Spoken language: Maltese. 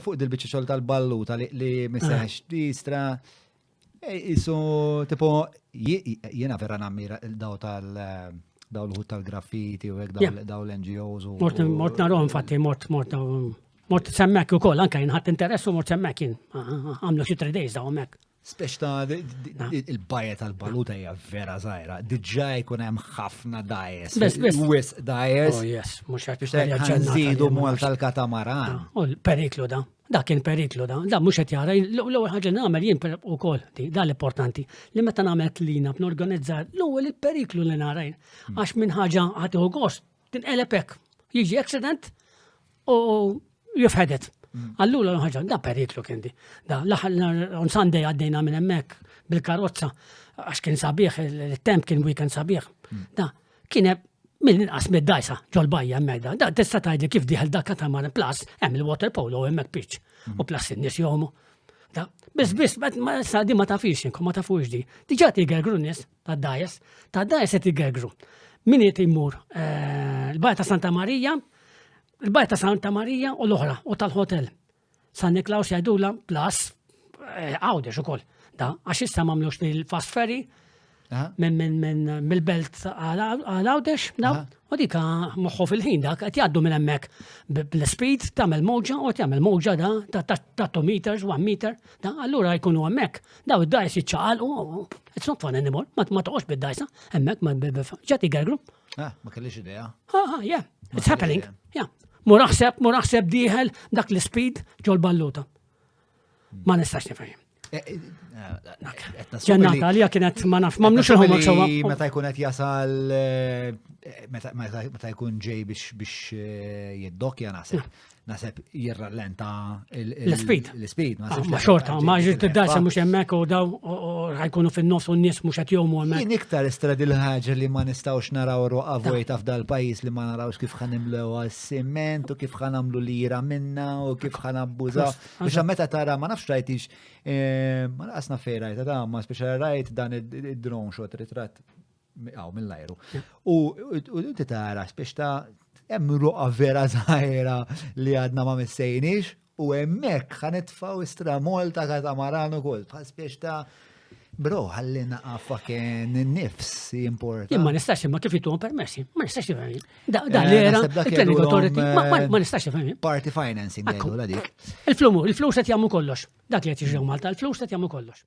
Fuq dil-biċċa xogħol tal-balluta li miseħx tistra jisu eh, tipo jiena vera nammira daw tal- daw l-ħut tal-graffiti u daw l-NGOs. Mort mort narom fatti mort mort mort semmek u koll, anka jinħat interessu mort semmek jien. Għamlu xie 3 days daw mek. Speċ ta' il-bajja tal-baluta hija vera zaħira, diġà jkun hemm ħafna dajes. Bes, bes. Wis dajes. Oh, yes, mhux qed biex nżidu mol tal-katamaran. Oh, periklu da. Da kien periklu da. Da mhux qed jara l-ewwel ħaġa nagħmel jien ukoll di, da l-importanti. Li meta nagħmel tlina b'norganizza l-ewwel il-periklu li narajn. Hmm. Għax minn ħaġa ħadd gost Tinqeleb hekk, jiġi accident u jifħedet. Mm. Allura l-ħagġa, da periklu kien di. Da, on Sunday għaddejna minn emmek bil-karozza, għax kien sabiħ, il-temp kien weekend sabiħ. Mm. Da, kien minn inqas mid-dajsa ġol-bajja emmek da. Da, tista tajdli kif diħel da katamaran plus, hemm il-water polo emmek pitch. Mm. U plus in-nis jomu. Da, bis bis, ma sa di ma tafix, ma tafux di. Diġa tiger grunnis, ta' dajes, ta' dajes qed igergru. Min qed imur eh, il-Bajja ta' Santa Marija, il-Bajja ta' Santa Marija u l-oħra u tal-hotel. San Niklaus jgħidula plus eh, għawdex ukoll. Da, għax issa mamlux il-fast ferry minn mill-belt għal għawdex, da, U dik moħħu fil-ħin dak qed jgħaddu minn hemmhekk bl-speed tagħmel mowġa u tagħmel mowġa da ta' 2 meters, 1 meter, da allura jkunu hemmhekk. Daw id-dajs jiċċaqalqu, it's not fun anymore, ma toqgħodx bid-dajsa, hemmhekk ma ġati gergru. Ah, ma kellix idea. Ah, ah yeah, it's happening. Yeah. Muraħseb, muraħseb diħel dak l-speed ġol balluta. Ma nistax nifhem. Ġennata li kienet ma naf, ma mnux il-ħomma sewa. Meta jkun qed jasal, eh, meta jkun ġej biex eh, jiddokja nasib. Nasib jirrallenta l-speed. L-speed, ma ah, xorta, ma ġiet id-dasa mux jemmek u daw ħajkunu fin-nofs u n-nies mux qed jomu hemmhekk. Jien iktar istrad il-ħaġa li ma nistgħux naraw roqa vojta f'dal pajjiż li ma narawx kif ħanimlew għas-siment u kif ħanamlu lira minna u kif ħanabbużaw. Biex meta tara, ma nafx rajtix, eh, ma naqasna fej rajt, ta' ma speċa rajt dan id-drone shot ritrat għaw mill-ajru. U inti tara spiex ta' hemm ruqa vera zaħira li għadna ma missejnix u hemmhekk ħanitfaw istra Malta katamaran ukoll bħal spiex ta' Bro, għalli naqa fucking nifs jimporta. Imma nistax imma kif jittuhom permessi, ma nistax jifhem. Da eh, l-era, il-planning authority, ma eh, nistax jifhem. Party financing għallu la dik. Il-flumu, il-flus qed jagħmlu kollox. Dak li qed jiġu Malta, il-flus qed jagħmlu kollox.